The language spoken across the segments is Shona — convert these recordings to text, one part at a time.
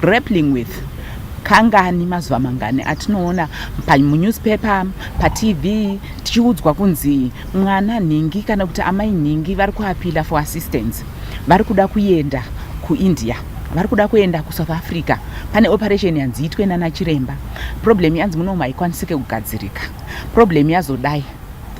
grappling with kangani mazuva mangani atinoona munewspaper patv tichiudzwa kunzi mwana nhingi kana kuti amai nhingi vari kuapila for assistance vari kuda kuenda kuindia vari kuda kuenda kusouth africa pane operation yanzi itwe nanachiremba problem yanzi munomu haikwanisike kugadzirika problem yazodai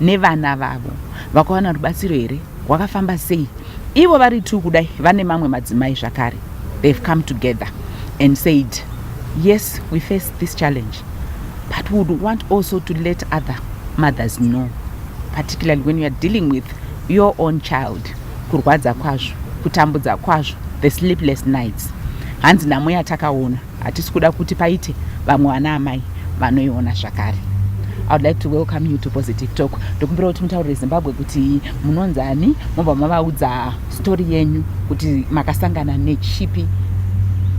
nevana vavo vakawana rubatsiro here rwakafamba sei ivo vari two kudai vane mamwe madzimai zvakare they've come together and said yes we face this challenge but we would want also to let other mothers know particularly when youare dealing with your own child kurwadza kwazvo kutambudza kwazvo the sleepless nights hanzi nhamo yatakaona Hatisi kuda kuti paite vamwe vana amai vanoiona zvakare. I would like to welcome you to Positive Talk. Ndokumbira kuti mutaurire Zimbabwe kuti munonzi ani, mobva mavaudza story yenyu kuti makasangana nechipi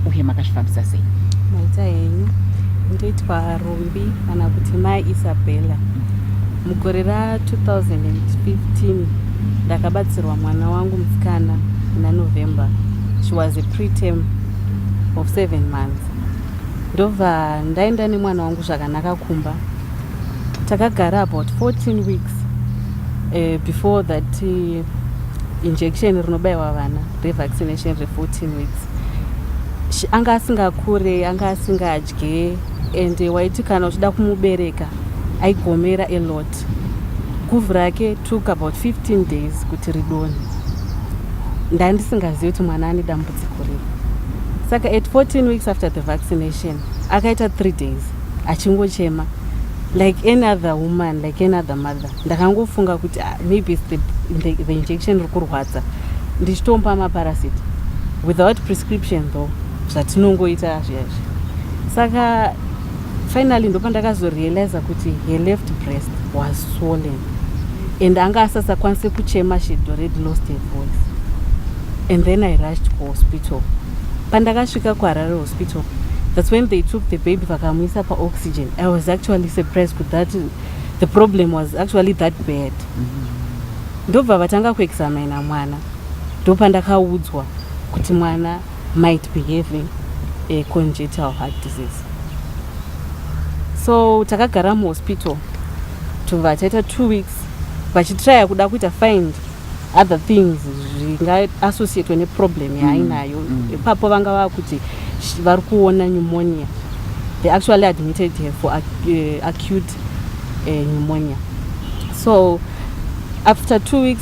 uye makazvifambisa sei. Maita henyu ndoitwa Rumbi kana kuti Mai Isabella. Mugore ra 2015 ndakabatsirwa mwana wangu musikana muna November. She was a preterm of seven months ndobva ndaenda nemwana wangu zvakanaka kumba takagara about 14 weeks uh, before that uh, injection rinobaiwa vana revaccination re14 weeks anga asingakure anga asingadye and waiti kana uchida kumubereka aigomera alot But guvhu rake took about 15 days kuti ridone. Ndandisingazivi kuti mwana ane dambudziko riri. Saka at 14 weeks after the vaccination akaita 3 days achingochema like any other woman like any other mother ndakangofunga kuti ah, maybe the, the, the injection iri kurwadza ndichitompa maparasiti without prescription though zvatinongoita zviya izvi saka finally ndopandakazorealiza kuti her left breast was swollen and anga asasakwanise kuchema she had already lost her voice and then i rushed kuhospital pandakasvika kuharare hospital that's when they took the baby vakamuisa paoxygen i was actually surprised kut that the problem was actually that bad ndobva vatanga kuexamina mwana ndopandakaudzwa kuti mwana might be having a congenital heart disease so takagara muhospital tuvataita two weeks vachitraya kuda kuita find other things zvingaasociatwe neproblem mm, yaainayo mm. ipapo mm. vanga vakuti vari kuona pneumonia they actually admitted her for ac uh, eh, acute uh, pneumonia so after two weeks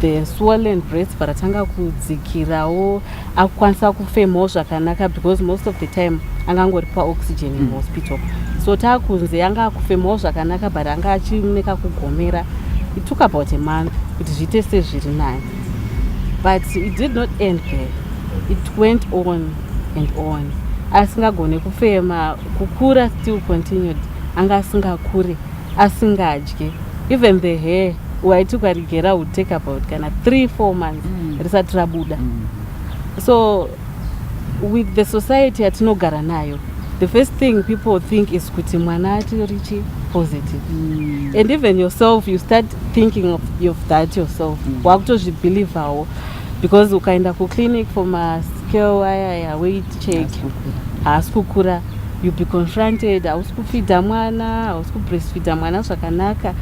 the swollen breasts but atanga kudzikirawo akukwanisa kufemawo zvakanaka because most of the time angangori paoxygen in mm. hospital so taakunzi anga akufemawo zvakanaka but anga achineka kugomera it took about a month kuti zviite sezviri naye but it did not end there it went on and on asingagone kufema kukura still continued anga asingakure asingadye even the hair waiti ukarigera would take about kana three four months mm. risati rabuda mm. so with the society yatinogara nayo the first thing people think is kuti mwana atirichi positive mm. and even yourself you start thinking of, of that yourself mm. wakutozvibhilivhawo because ukaenda kuclinic for mascale ayaya weight check haasi kukura you be confronted hausi kufidha mwana hausi kubreastfidha mwana zvakanaka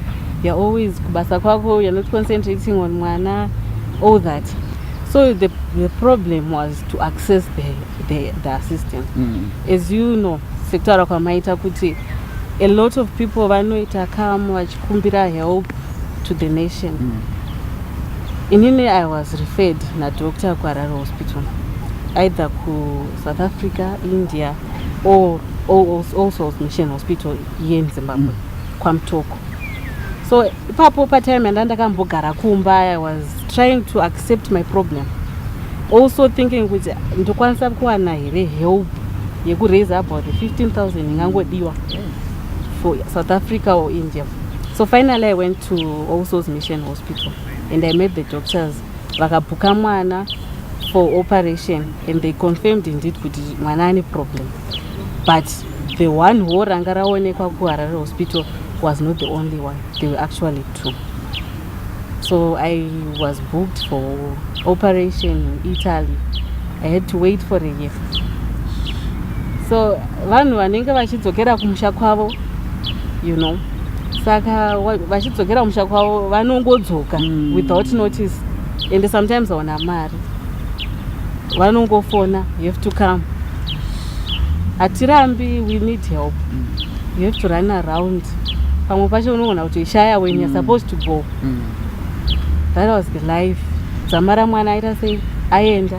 you're always kubasa kwako you're not concentrating on mwana all that so the, the problem was to access the, the, the assistance mm. as you know sekutaura kwamaita kuti a lot of people vanoita kam vachikumbira help to the nation mm. inini i was referred nadoctor kuarara hospital either ku South Africa, India or all, all Souls Mission Hospital here in Zimbabwe, mm. Kwamtoko. So ipapo patime and ndakambogara kumba I was trying to accept my problem. Also thinking kuti ndokwanisa kuwana here help yekuraise about 15000 ingangodiwa for South Africa or India. So finally I went to All Souls Mission Hospital and I met the doctors Vakabhuka mwana for operation and they confirmed indeed kuti mwana ane problem but the one wo ranga raonekwa kuharare hospital was not the only one they were actually two so i was booked for operation in italy i had to wait for a year so vanhu vanenge vachidzokera kumusha kwavo you know saka vachidzokera kumusha kwavo vanongodzoka mm. without notice and sometimes aona mari vanongofona you have to come hatirambi we need help mm. you have to run around pamwe pacho unogona kuti ishaya when you're mm. supposed to go mm. that was the life dzamara mwana aita sei aenda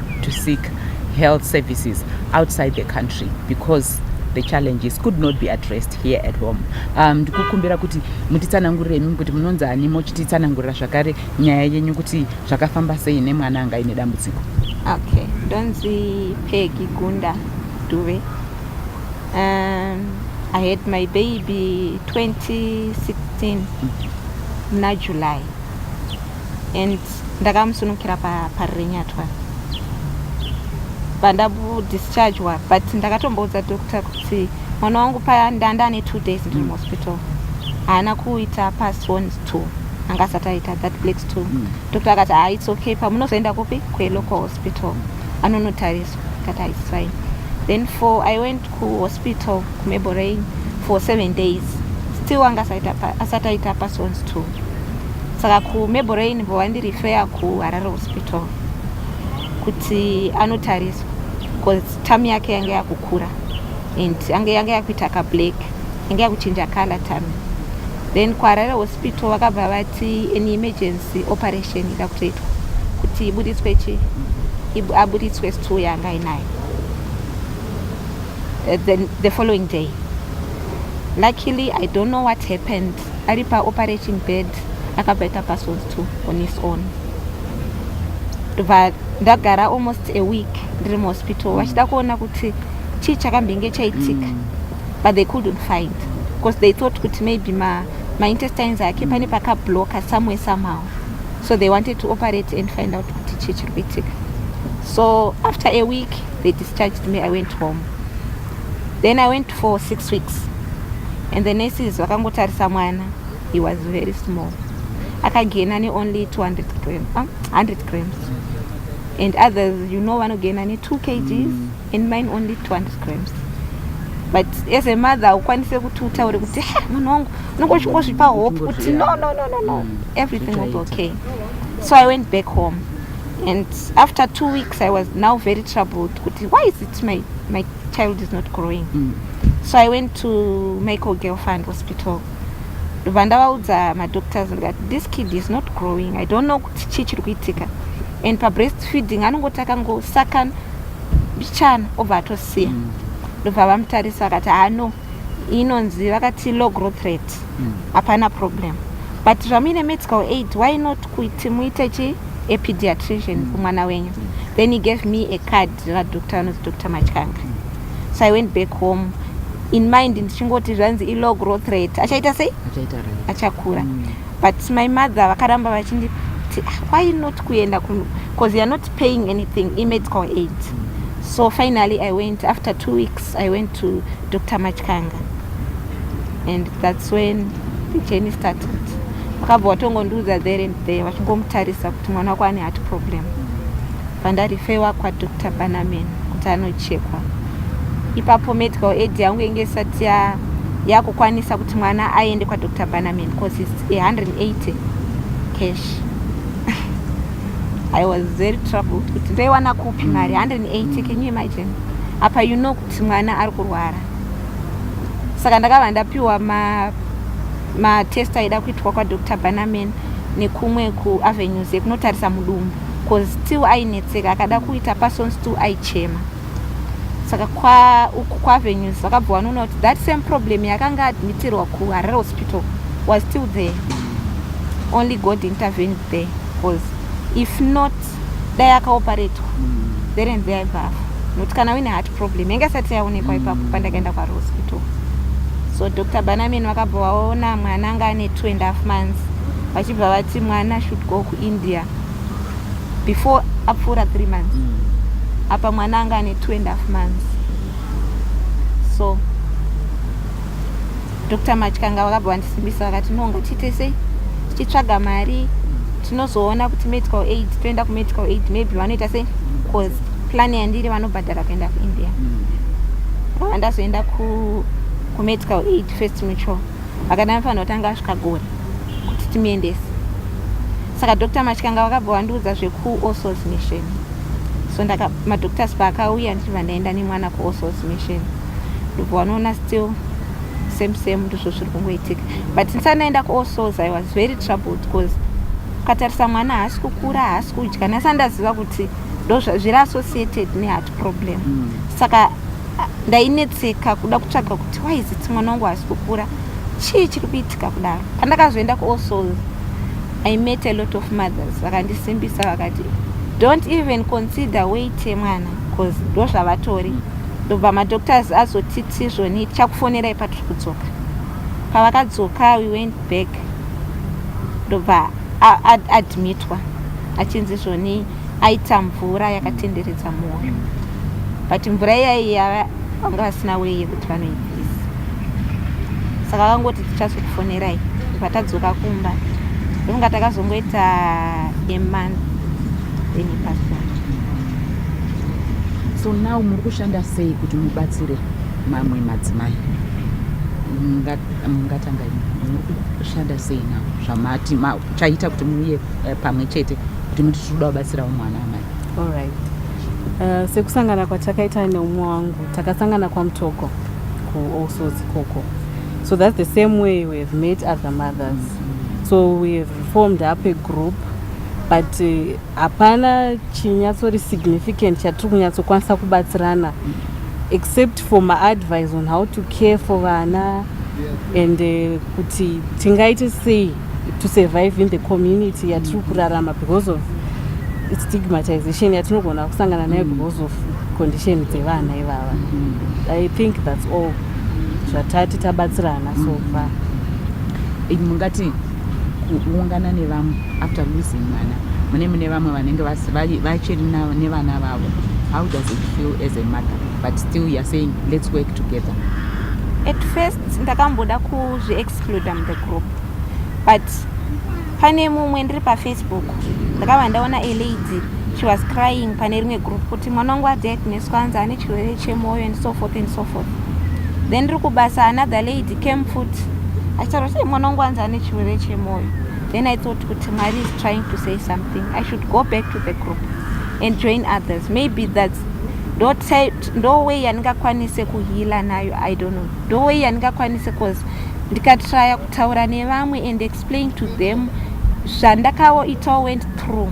to seek health services outside the country because the challenges could not be addressed here at home um, ndikukumbira kuti mutitsanangurire imimi kuti munonzi ani mochititsanangurira zvakare nyaya yenyu kuti zvakafamba sei nemwana anga ine dambudziko okay ndonzi pegi gunda duve um, i had my baby 2016 muna july and ndakamusunukira parirenyatwa pandabudischargwa but ndakatomboudza doctor kuti mwana wangu paya ndanda ane two days ndiri mm. muhospital haana kuita pasons two anga asati aita that blacks two mm. doctor akati haa its okay pamunozoenda kupi kwelocal hospital mm. anonotariswa akati haa its fine then for i went kuhospital kumeborain for seven days still anga asati aita pasons two saka kumeborrain vovandirifeya kuharare hospital kuti anotariswa bcause tam yake yange yakukura and ange yange yakuita kablack yange yakuchinja color tam then kuharare hospital vakabva vati an emergency operation ida kutoitwa kuti ibuditswe chi abuditswe stool yanga ainayo eh, then the following day luckily i don't know what happened ari paoperating bed akabva ita password to on his own ndobva ndagara almost a week ndiri muhospital mm. vachida kuona kuti chii chakambenge chaitika mm. but they couldn't find because they thought kuti maybe ma, ma intestines ake pane pakabloka somewhere somehow so they wanted to operate and find out kuti chii chiri kuitika so after a week they discharged me i went home then i went for six weeks and the nurses vakangotarisa mwana he was very small akagena neonly 200 gram, uh, 100 grams and others you know vanogena ne2 kgs mm. and mine only 200 grams but as a mother ukwanise kuti utaure kuti munhu wangu unenge uchingozvipa hope kuti no no no no no mm. everything will be okay so i went back home and after two weeks i was now very troubled kuti why is it my, my child is not growing mm. so i went to michael gelfund hospital ndobva ndavaudza madoctors ndikati this kid is not growing i don't know kuti chii chiri kuitika and pabreast feeding anongoti akangosaka bichana obva atosiya mm. ndobva mm. vamutarisa vakati hano ah, inonzi vakati low growth rate mm. hapana mm. problem but zvamuine medical aid why not kuti muite chii a pediatrician mm. kumwana wenyu mm. then he gave me a card radoctor anonzi dr machanga mm. so i went back home in mind ndichingoti zvanzi ilow growth rate achaita sei achakura mm. but my mother vakaramba vachindi ah, why not kuenda because youare not paying anything imedical aid mm. so finally i went after two weeks i went to dr machanga and thats when the journey started vakabva vatongondiudza there and there vachingomutarisa kuti mwana wako ane heart problem vandarifewa kwadr banamen kuti anochekwa ipapo medical aid yangu inge isati yakukwanisa kuti mwana aende kwadr banamen bcause its 180 cash i was very troubled kuti ndoiwana kupi mari 180 can you imagine apa you know kuti mwana ari kurwara saka ndakabva ndapiwa matest ma aida kuitwa kwadr banaman nekumwe kuavenues yekunotarisa mudumbu bcause still ainetseka akada kuita person still aichema saka uku kuavenues vakabva vanoona kuti that same problem yakanga admitirwa kuharare hospital was still there only god intervened there bcause if not dai akaoparetwa there and there aibva afa nokuti kana uine heart problem yanga isati yaonekwa ipapo mm. pandakaenda kwarohospital so dr banamin vakabva vaona mwana anga ane two and half months vachibva vati mwana should go kuindia before apfuura three months mm. apa mwana anga ane two and half months so Dr Matyanga vakabva vandisimbisa vakati no ngatiite sei tichitsvaga mari tinozoona kuti medical aid toenda kumedical aid maybe vanoita sei bcause plan yandiri vanobhadhara kuenda kuindia vava ndazoenda kumedical aid first mutual vakati vanofanira kutanga vasvika gore kuti timuendese saka dr matyanga vakabva vandiudza zvekuosos mission so madoctors paakauya ndichibva ndaenda nemwana kuosos mission ndobva wanoona still same same ndizvo zviri kungoitika but ndisanaenda kuall souls i was very troubled because ukatarisa mwana haasi kukura haasi kudya nasa ndaziva kuti ndozviri associated neheart problem mm. saka ndainetseka kuda kutsvaga kuti why is it mwana wangu haasi kukura chii chiri kuitika kudaro pandakazoenda kuall souls i met a lot of mothers vakandisimbisa vakati don't even consider wait yemwana bcause ndozvavatori mm. ndobva madoctors azotiti zvoni tichakufonerai patiri kudzoka pavakadzoka we went back ndobva admitwa achinzi zvoni aita mvura yakatenderedza mwoyo but mvura iyayi yava vanga vasina wei yekuti vanoibvisa saka vakangoti tichazokufonerai ndobva tadzoka kumba ndokunga takazongoita emonth then ipasona so now muri kushanda sei kuti mubatsire mamwe madzimai mungatanga muri kushanda sei now zvamati chaita kuti muuye eh, pamwe chete kuti muti tiri kuda kubatsirawo mwana amai allright uh, eh, sekusangana kwatakaita neumwe wangu takasangana kwamutoko kuallsort koko so that's the same way we have made other mothers mm -hmm. so we have formed up a group but uh, hapana chinyatsori significant chatiri kunyatsokwanisa kubatsirana except for maadvice on how to care for vana and uh, kuti tingaite sei to survive in the community yatiri kurarama because of stigmatization yatinogona kusangana nayo mm. because of condition dzevana ivava mm. i think thats all zvatati tabatsirana so mm. far mungati kuungana nevamwe after losing mwana mune mune vamwe vanenge vachiri nevana vavo how does it feel as a mother but still youare saying let's work together at first ndakamboda kuzviexclude am the group but pane mumwe ndiri pafacebook ndakava ndaona a lady she was crying pane rimwe group kuti mwana wangu adiagnoswa anzi ane chirwere chemwoyo and so forth and so forth then ndiri kubasa another lady came futi achitaura kuti mwana wangu anzi ane chirwere chemwoyo then i thought kuti mwari is trying to say something i should go back to the group and join others maybe that's ndo way yandingakwanise kuhila nayo i don't know ndo way yandingakwanise cause ndikatraya kutaura nevamwe and explain to them zvandakaoitawo went through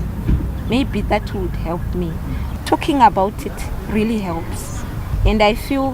maybe that would help me talking about it really helps and i feel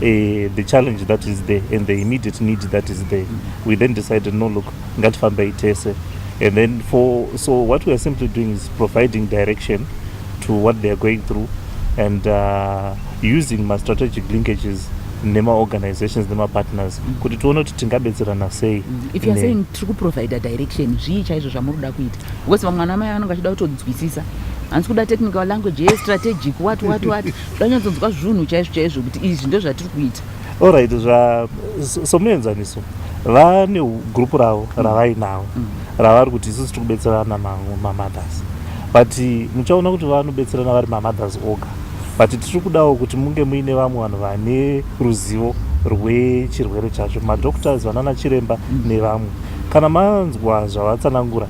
Uh, the challenge that is there and the immediate need that is there we then decided no look ngatifambei tese and then for so what we are simply doing is providing direction to what they are going through and uh, using my strategic linkages nemaorganizations nemapartners mm. kuti tione kuti tingabetserana sei mm. if youare saying tiri kuprovider direction zvii chaizvo zvamuri kuda kuita because vamwana amai vanenge vachida kutonzwisisa hanzi kuda technical language yestrategic wat wat wat vanyatsonzwa zvunhu chaizvo chaizvo kuti izvi ndozvatiri kuita orit somuenzaniso vane group ravo mm. ravainavo mm. ravari kuti isusu tiri kubetserana mamothers but muchaona kuti vanobetserana vari mamothers oga but tiri kudawo kuti munge muine vamwe vanhu vane ruzivo rwechirwere chacho madoctors vanana chiremba mm. nevamwe kana manzwa zvavatsanangura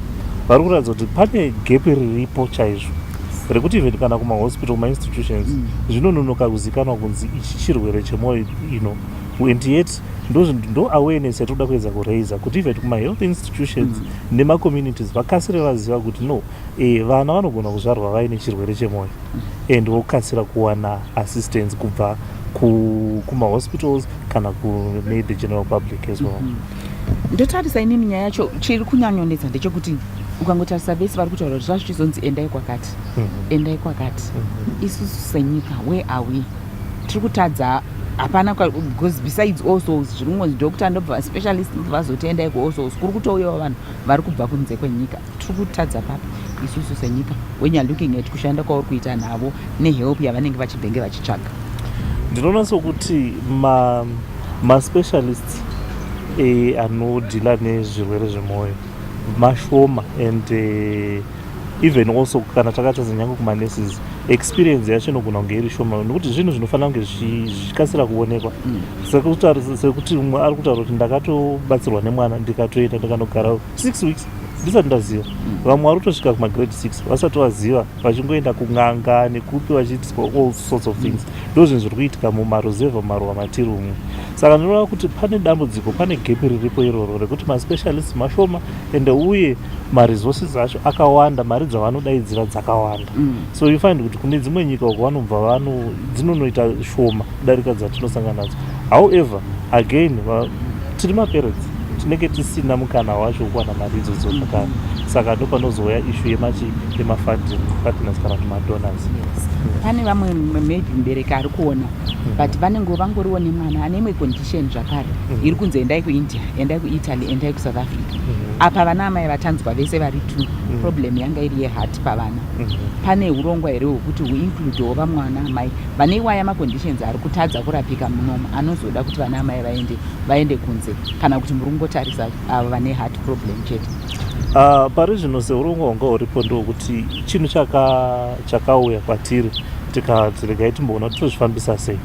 vari kuratidza kuti pane gepi riripo chaizvo rekuti even kana kumahospital kumainstitutions mm. zvinononoka kuzikanwa kunzi ichi chirwere chemwoyo ino and yet ndo awareness yatinoda kuedza kuraiser kuti even kumahealth institutions mm. nemacommunities vakasire vaziva kuti no e, vana vanogona kuzvarwa vaine chirwere chemwoyo mm. and vokasira kuwana assistance kubva kumahospitals kana kune the general public as well mm -hmm. ndotarisa inini nyaya yacho chiri kunyanyonetsa ndechekuti ukangotarisa vese vari kutaura kuti zvazvichizonzi endai kwakati mhm. endai kwakati mhm. isusu senyika where are we tiri kutadza hapana because besides alsos zviri kungonzi doctor ndobva specialist ndobva vazoti endai kualsos kuri kutouyawo vanhu vari kubva kunze kwenyika tiri kutadza papi isusu senyika when you're looking at kushanda kwauri kuita navo nehelp yavanenge vachibhenge vachitsvaga ndinoona sokuti maspecialists ma eh, anodhila nezvirwere zvemwoyo mashoma and eh, even also kana takatadza nyange kumaneses experience yacho inogona kunge iri shoma nokuti zvinhu zvinofanira kunge zvichikasira kuonekwa mm. sekuti umwe ari kutaura kuti ndakatobatsirwa nemwana ndikatoenda ndikanogara 6 weeks ndisati ndaziva mm. vamwe vari kutosvika kumagrade 6 vasati vaziva vachingoenda kun'anga nekupi vachiitiswa all sorts of things mm. ndo zvinhu zviri kuitika mumaruzevha maruwa matiri umwe saka ndinoreva kuti pane dambudziko pane gepi riripo iroro rekuti maspecialist mashoma ende uye maresources acho akawanda mari dzavanodaidzira dzakawanda mm. so you find kuti kune dzimwe nyika uko vanobva vano dzinonoita shoma kudarika dzatinosangana nadzo however again tiri maparents tinenge tisina mukana wacho wekuwana mari idzodzo zvakare saka ndo panozouya ishu yemachi yemafunding partners kana kuti madonors pane vamwe maybe mubereki ari kuona hmm. but vanenge vangoriwo nemwana ane imwe condition zvakare hmm. iri kunzi endai kuindia endai kuitaly endai kusouth africa hmm. apa vana amai vatanzwa vese vari two problem yanga iri yehati pavana pane urongwa here hwekuti huincludewo vamwana amai vane iwaya maconditions ari kutadza kurapika munomu anozoda kuti vana amai vaende vaende kunze kana kuti muri kungotarisa avo uh, vane heart problem chete uh, pari zvino seurungu wanga uripo ndokuti chinhu chakauya kwatiri tikanzi regai timboona totozvifambisa sei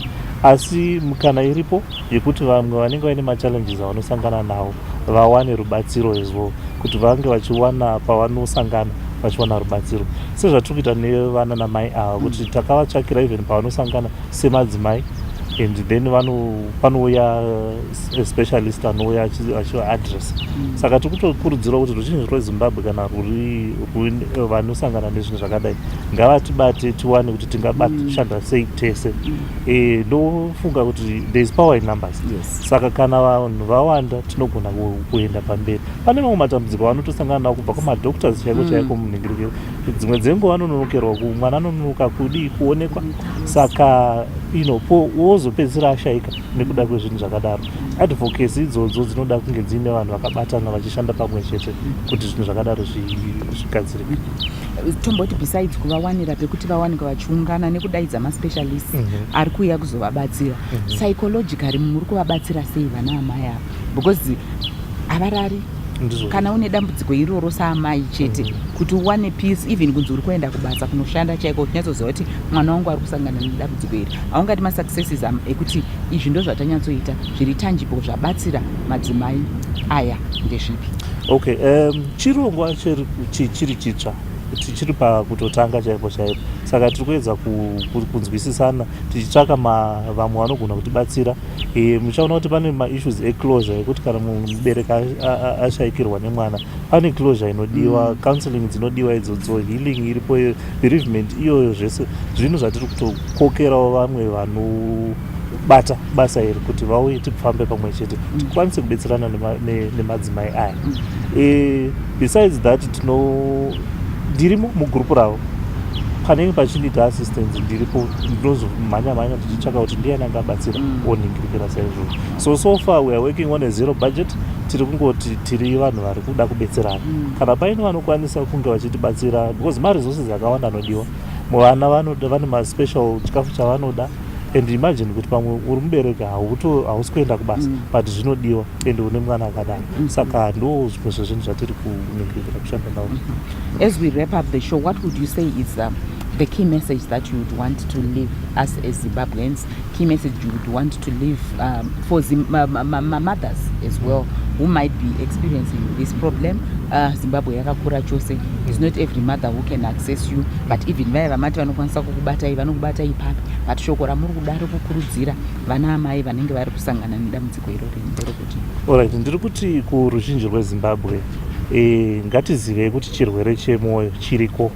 asi mukana iripo yekuti vamwe vanenge vaine machallenges avanosangana nawo vawane rubatsiro as well kuti vange vachiwana pavanosangana vachiwana rubatsiro sezvatiri kuita nevana namai ava kuti takavatsvakira even pavanosangana semadzimai and then panouya eh, specialist anouya achivaadress mm. saka tiri kutokurudzirwa kuti ruzhinji rwezimbabwe kana ruri eh, vanosangana nezvinhu zvakadai ngavatibate tiwane kuti tingashanda mm. sei tese mm. Eh, ndofunga kuti there is power in numbers yes. saka kana vanhu vawanda tinogona kuenda pamberi pane mamwe matambudziko vanotosangana navo kubva kumadoctors chaiko mm. chaiko munhingirikiro dzimwe dzenguva anononokerwa mwana anononoka kudii kuonekwa saka ino po wozopedzisira ashaika nekuda kwezvinhu zvakadaro advocacy idzodzo dzinoda kunge dziine vanhu vakabatana vachishanda pamwe chete kuti zvinhu zvakadaro zvigadzirike tomboti besides kuvawanira pekuti vawanike vachiungana nekudaidza maspecialist mm -hmm. ari kuuya kuzovabatsira mm -hmm. psychologically muri kuvabatsira sei vana amai ava because havarari kana une dambudziko iroro saamai chete mm. kuti uwane peace even kunzi uri kuenda kubasa kunoshanda chaiko uchinyatsoziva kuti mwana wangu ari kusangana nedambudziko iri haungati masuccesses am ekuti izvi ndo zvatanyatsoita zviri tangible zvabatsira madzimai aya ndezvipi okay um, Chirongwa chiri chitsva tichiri pakutotanga chaipo chaipo saka tiri kuedza kunzwisisana tichitsvaka vamwe vanogona kutibatsira e, muchaona kuti pane maissues eclosure ekuti kana mubereki ashaikirwa nemwana pane closure inodiwa mm. counseling dzinodiwa idzodzo healing iripo bereavement iyoyo zvese zvinhu zvatiri kutokokerawo vamwe vano bata basa iri kuti vauye tipfambe pamwe chete mm. tikwanise kubetserana nemadzimai aya mm. eh, besides that tino ndirimo mugurupu ravo panenge pachinida assistance ndiripo ndinozomhanya mhanya tichitsvaka kuti ndiani anga abatsira mm. oningirikira saizvoo so so far weare working on a zero budget tiri kungoti tiri vanhu vari kuda kubetserana kana paine vanokwanisa kunge vachitibatsira because maresources akawanda anodiwa vana vanoda vane maspecial chikafu chavanoda and imagine kuti pamwe uri mubereki hausi kuenda kubasa mm. but zvinodiwa and une mwana akadaro mm. saka ndo zvimwe zvezvinhu zvatiri kunyengetera kushanda navo mm-hmm. as we wrap up the show what would you say is um, the key message that you would want to leave us as zimbabweans key message you would want to leave um, for Zim uh, mothers as well who might be experiencing this problem uh, zimbabwe yakakura chose is not every mother who can Sesu but even vaya vamati vanokwanisa kukubatai vanokubatai papi but shoko ramuri kuda rekukurudzira vana amai vanenge vari kusangana nedambudziko irori ndiri kuti orit ndiri kuti kuruzhinji rwezimbabwe e, ngatizivei kuti chirwere chemwoyo chiriko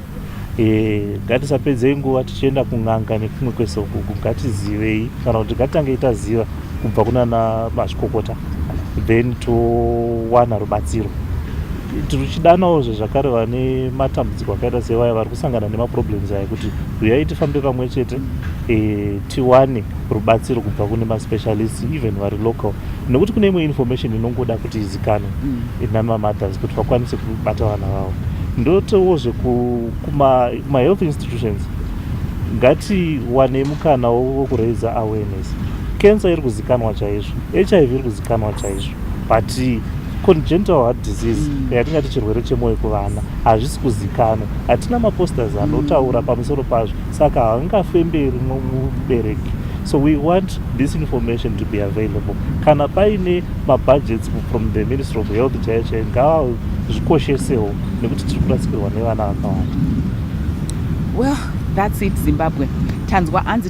e, ngatisapedzei nguva tichienda kun'anga nekumwe kwese ukuku ngatizivei kana kuti ngatange itaziva kubva kunana mazvikokota then towana rubatsiro tichidanawo zvezvakare vane matambudziko akaita sevaya vari kusangana nemaproblems aya kuti huyai tifambe pamwe chete e, tiwane rubatsiro kubva kune maspecialist even vari local nekuti kune imwe information inongoda kuti izikanwe mm. inani mamothers kuti vakwanise kubata vana vavo ndotowo zvekumahealth institutions ngatiwane mukana wokuraiza awareness Cancer iri kuzikanwa chaizvo, HIV iri kuzikanwa chaizvo but congenital heart disease mm. yatingati chirwere chemwoyo kuvana hazvisi kuzikanwa hatina maposters anotaura mm. pamusoro pazvo saka haangafemberi mubereki so we want this information to be available kana paine mabudgets from the ministry of health chaiyo chaiyo ngavazvikoshesewo nekuti tiri kurasikirwa nevana vakawanda well that's it zimbabwe tanzwa anzi